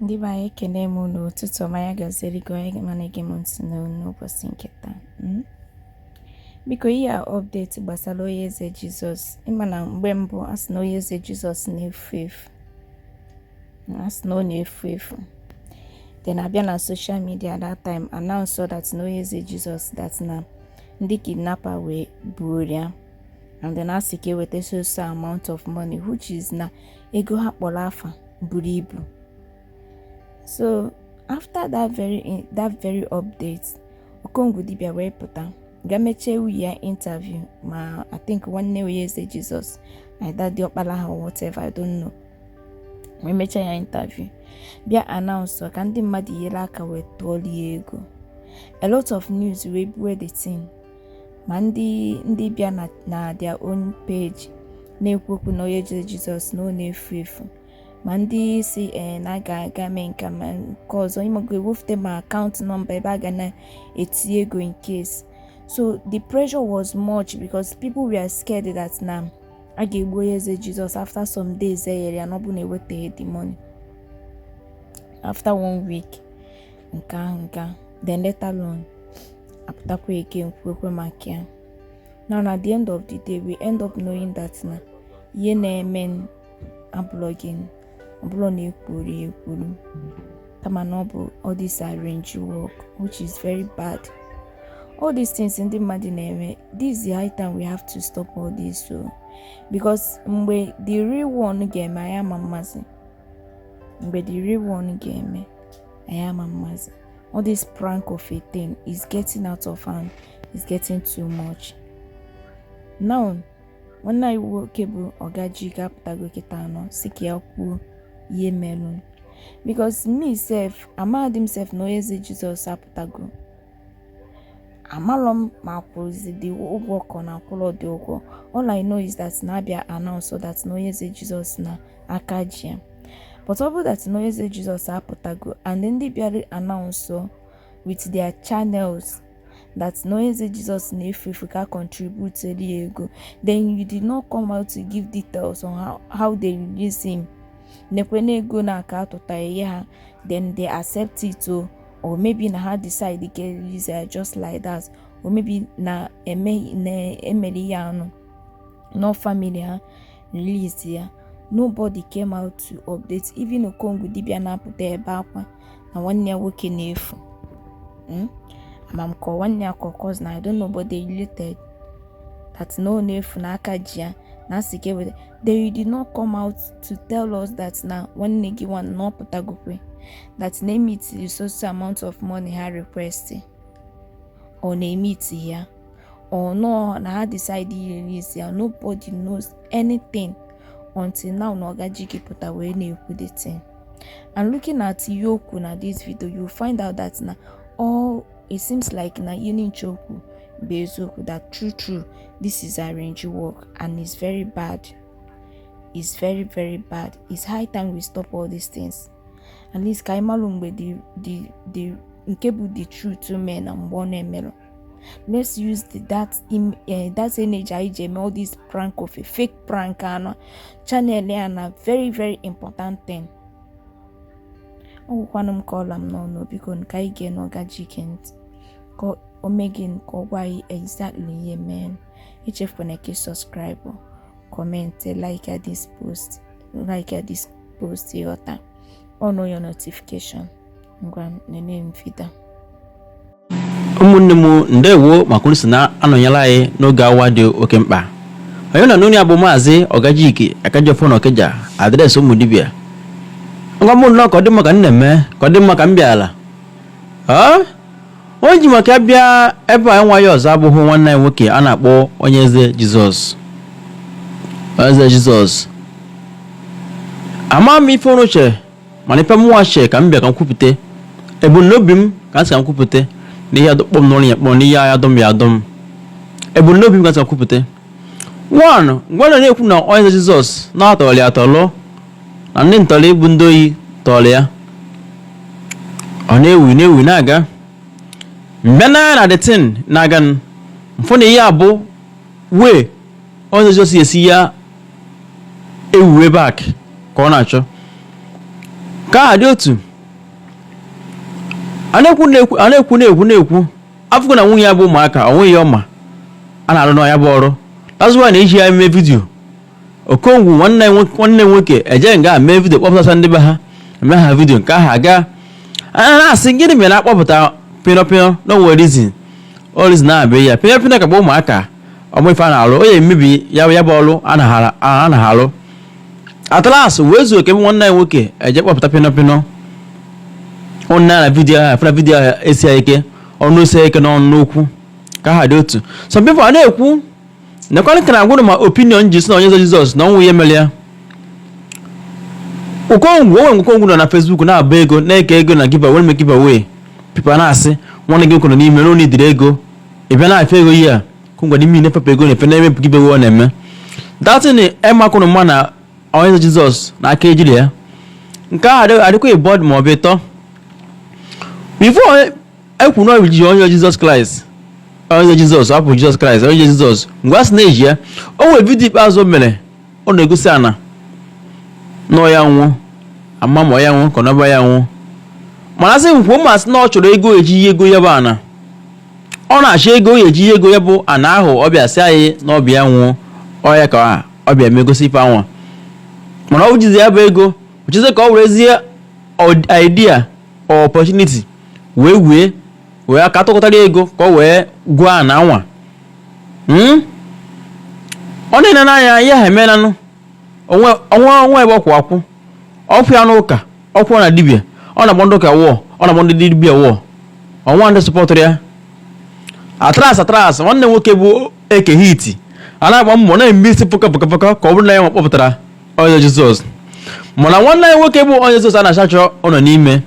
ndị be anyị ekene m unu ụtụtụ ọma ya gaziri gị onye ọma na-ege m ntị n'ụbọchị nke taa hmm? biko ihe a update gbasara onye eze jizọs ịma na mgbe mbụ a sị na onye eze jizọs na-efu efu na a sị na ọ na-efu efu then a bịa na social media that time announce that na onye eze Jizọs that na ndị kidnapper wee buo ya and then a sị ka e weta so so amount of money which is na ego ha kpọrọ afa buru ibu so after that very that very update okongwu dibịa wee pụta ga mechie nwunye ya interview ma i think nwanne onye eze jizọs either diọkpala ha or whatever i don't know wee mechaa ya interview bịa announce ka ndị mmadụ nyere aka wee tụọrọ ya ego a lot of news wee buwe the thing ma ndị ndị bịa na na their own page na-ekwu okwu na onye eze jizọs na ọ na-efu efu ma ndị sị ee na a ga a ga-eme nka ma nke ọzọ ịmago ewefute ma account number ebe a ga na-eti ego in case so the pressure was much because people were scared that na a ga-egbu onye eze jizọs after some days e nyere ya na ọ bụ na ewetaghị the money after one week nke ahụ nke ahụ then later on apụtakwaghị kwuo okwu maka ya now na the end of the day we end up knowing that na ihe na-eme na blogging ọ bụlọ na e kwuru ya ekwuru kama na ọ bụ all this arrange work which is very bad all these things ndị mmadụ na-eme this is the high time we have to stop all this so because mgbe the real one ga-eme anyị ama amazi mgbe the real one ga-eme anyị ama amazi all this prank of a thing is getting out of hand is getting too much now nwanne anyị nwoke bụ ọga Ejike apụtago kịta a nọ sị ka ya kwuo ihe merụ because me sef amadị m sef na onye eze jizọs apụtago amalọ m ma a kwụzi the ụgwọ ka ọ na akwụlọ the ụgwọ all i know is that na a bịa announce that na onye eze jizọs na aka ji ya but ọ bụrụ that na onye eze jizọs apụtago and ndị bịara announce with their channels that na onye eze jesus na-efu efu ka a contribute ya ego then you did not come out to give details on how, how they release him nekwe na ego na aka atụta nye ha then they accept it o or maybe na ha decide ga release ya just like that or maybe na e mere ihe anụ no family ha release ya nobody came out to update even okongwu dibịa na-apụta ebe akwa na nwanne ya nwoke na-efu hmm? ama m ka nwanne ya ka cousin I don't know but they related that na ọ na-efu na aka ji ya na asị ka eweta they did not come out to tell us that na nwanne gị nwanne na ọ pụtagokwe that na emeet the so so amount of money ha request or na emeetighị ya or no na ha decide release ya nobody knows anything until now na ọgajike pụta wee na-ekwu the thing and looking at ihe o kwu na this video you find out that na all it seems like na ihe ncha o kwu bụ eziokwu that true true this is arrange work and it's very bad it's very very bad it's high time we stop all these things at least ka anyị malụ mgbe the the the nke bụ the truth mee na mgbe ọ na-emerọ let's use the, that im, uh, that energy anyị ji eme all this prank of a fake prank and channel ya na very very important thing ọ gwụkwanụ m ka ọ la m n'ọnụ biko ka anyị geenụ ọgajike ntị ka o mee gịnị ka ọ gwa anyị exactly ihe menụ echefukwana ka subscribe comment like this post ị ghọta on your notification ngwa nene m vidio ụmụnne m ndewo maka unu si na-anọnyere anyị n'oge awa dị oke mkpa onye na-anụ onu ya bụ maazị ọgajike akajiọfọ na ọkịja adreesị ụmụ dibịa ngwa mụ nnọọ ka ọ dị mma ka m na-eme ka ọ dị mma ka m bịara Ee? onye ji maka ya bịa ebe a nwa ya ọzọ abụghị nwanne anyị nwoke a na-akpọ onyeze jizọs eze jizọs ama m ife unu chere mana ife mụnwa chee ka m bịa ka m kwupụta ebumnobi m ka m sị ka m kwupụta na ihe adọkpọ m n'ọrụ ya kpọrọ na ihe agha dọm ya adọm ebumnobi m ka m sị ka m kwupụta nwanụ mgbe ọ na-ekwu na onyeze jizọs na a tọrọ ya atọrọ na ndị ntọrọ ịbụ ndị ohi tọrọ ya ọ na-ewu na-ewu na-aga mgbe n'anya na the thing na-aga m fụ na ihe a bụ way onyeze jizọs esi ya ewuwe back ka ọ na-achọ ka aha dị otu a na-ekwu na-ekwu a na-ekwu na-ekwu na-ekwu afụgo na nwunye ya bụ ụmụaka o nweghị ọma a na-arụ na ya bụ ọrụ that's why na e ji ya mee vidiyo okongwu nwanne nwo- nwanne nwoke eje nga mee vidiyo kpọpụtasịa ndị be ha e mee ha vidiyo nke ahụ aga a na-asị gịnị mere na-akpọpụta pịnọpịnọ na o nwe reason ọ reason na-abịa ya pịnọpịnọ ka bụ ụmụaka ọmụ ife a na-alụ onye emebi ya bụ ya bụ ọlụ a naghara- a anaghị alụ at last wee zuo ka ebe nwanne ya nwoke eje kpọpụta pịnọ pịnọ ụnụ na vidiyo ahụ afụrụ vidiyo ahụ esi ya ike ọnụ esi ya ike n'ọnụ n'okwu ka ha dị otu some people a na-ekwu nekwana ka m na-agwa ụnụ my opinion ji si na onyeze jizọs na ọnwụ ya emere ya okongwu onwe nke okongwu nọ na facebook na-agba ego na-eke ego na giveaway na giveaway people na-asị nwanne gị nwoke nọ n'ime na onye idiri ego ị bịa na-efe ego ihe a okongwu n'ime ị na-efepụ ego na-efe na-eme giveaway ọ na-eme that thing emekwuru m ma na onyeze jizọs na aka ejiri ya nke ahụ adịghị- adịkwa ịbụọ ma ọ bụ ịtọ before ekwu na e ji onyeze jizọs kraịst onyeze jizọs ọ bụ jizọs kraịst onyeze jizọs mgbe a sị na e ji ya o nwere vidio ikpeazụ o mere ọ na-egosi ana na ọ ya nwe ama m ma ọ ya nwe ka ọ na abụ ya nwe mana sị m kwuo ma sị na ọ chọrọ ego eji ego ya bụ ana ọ na-achọ ego ọ ya-eji ego ya bụ ana ahụ ọ bịa sị anyị na ọ bụ ya nwe ọ ya ka ọ bịa megosi ife anwa mana ọ jizi ya bụ ego ọ chọzi ka ọ werezie idea or opportunity wee wee wee aka tụkọtara ego ka ọ wee goo ana anwa ọ na-ene n'anya ya ha emenanụ o nwe ebe ọ kwụ akwụ ọ kwụ n'ụka ọ kwụ na dibia ọ na-agba ndị ụka wụọ ọ na-agba ndị dibia wụọ o nwe ndị sọpọtụrụ ya at last at last nwanne nwoke bụ eke hit a na-agba mbọ na-eme isi pụka pụka pụka ka ọ bụrụ na ya nwa kpọpụtara onyeze jizọs mana nwanne ya nwoke bụ onyeze jizọs a na-achachọ ọ nọ n'ime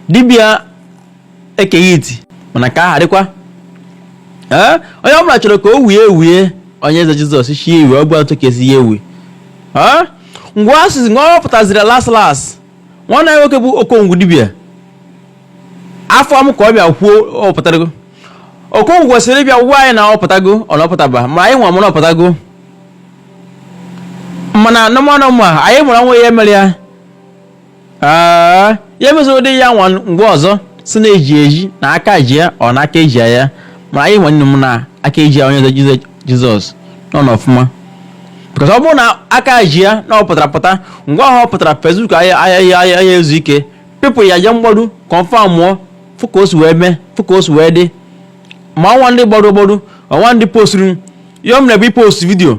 dibia eke hit mana ka aha dịkwa ee onye ọbụla chọrọ ka o wee iwe onyeze jizọs sị ya wee ọ bụ etu ka esi ya ewe ee ngwa asụsụ ngwa ọ pụtaziri las las nwanne ya nwoke bụ okongwu dibia afụ m ka ọ bịa kwuo ọ pụtago okongwu kwesịrị ịbịa gwa anyị na ọ pụtago or na ọ pụtabe ma anyị nwa mara ọ pụtago mana normal normal anyị mara na o nwe ihe mere ya ee ya emezoro ụdị ya nwa mgbe ọzọ si na eji eji na aka ji ya or na aka eji ya mana anyị nwanne m na aka eji ya onyeze Jiz- jizọs nọ n'ọfụma because ọ bụrụ na aka ji ya na ọ pụtara pụta ngwa ahụ ọ pụtara facebook a ya a ya a ya ezu ike people ya je mgbọrụ kọnfamụọ fụ ka o si wee mee fụ ka o si wee dị ma o nwe ndị gbọrọ gbọrọ o nwe ndị posturu ya ọ mere bụ ipost vidio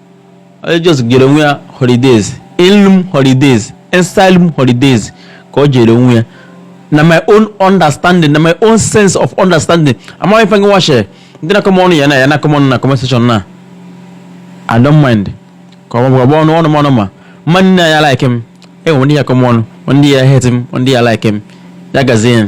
ọ just jere onwe ya holidays inlum holidays asylum holidays ka ọ jere onwe ya na my own understanding na my own sense of understanding amaghị ife gịnwa che ndị na-akọ m ọnụ ya na ya na-akọ m ọnụ na comment section na i don't mind ka ọ gbagba ọnụ ọnụ m ọnụ ma mmadụ niine ya like m enwe ndị ya akọ m ọnụ ndị ya hate m ndị ya like m ya gazie ya